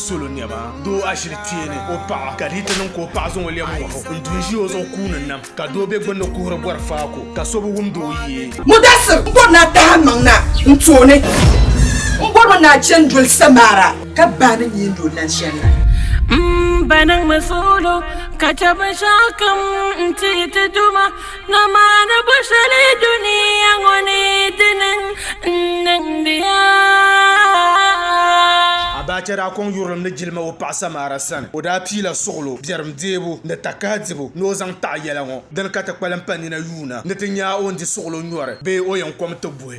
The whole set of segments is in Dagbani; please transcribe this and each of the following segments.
solo nɛma doo ashili kpee ni o paɣa ka di ti niŋ ka o paɣa zaŋ o lɛm ŋɔhi o n-du n-ʒi o zuɣu kuuni nam ka doo be gbunni kuhiri bɔri faako ka so bi wumdi o yee. Mudasir, N bɔri ni a tahi a maŋ na n tooni. N bɔri mi ni a chani doli Samara ka bahi ni nyiindi o lan shɛli la. M ba niŋmi solo ka chɛ binshɛɣukam n-ti yi ti duuma. Ŋɔmaani bɔ shɛli duniya ŋɔ ni ti niŋ n-niŋdiya. Abacha daa kɔŋ yurilim ni jilima o paɣ Samaara sani. O daa piila suɣilo, biɛrim deebu ni takahi dibu ni o zaŋ taɣi yɛla ŋɔ. Dini ka ti kpalim pa nina yuuna ni ti nya a o ni di suɣilo nyɔri bee o yɛn kom ti buhi.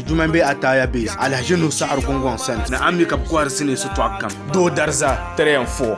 Juma n bɛ Ataya Base, Alhaji Nuhu Saɣari Gungoŋ sani. Ni a mi ka bɛ kɔhiri sinii sitɔɣu kam. Doo Dariza 3 and 4.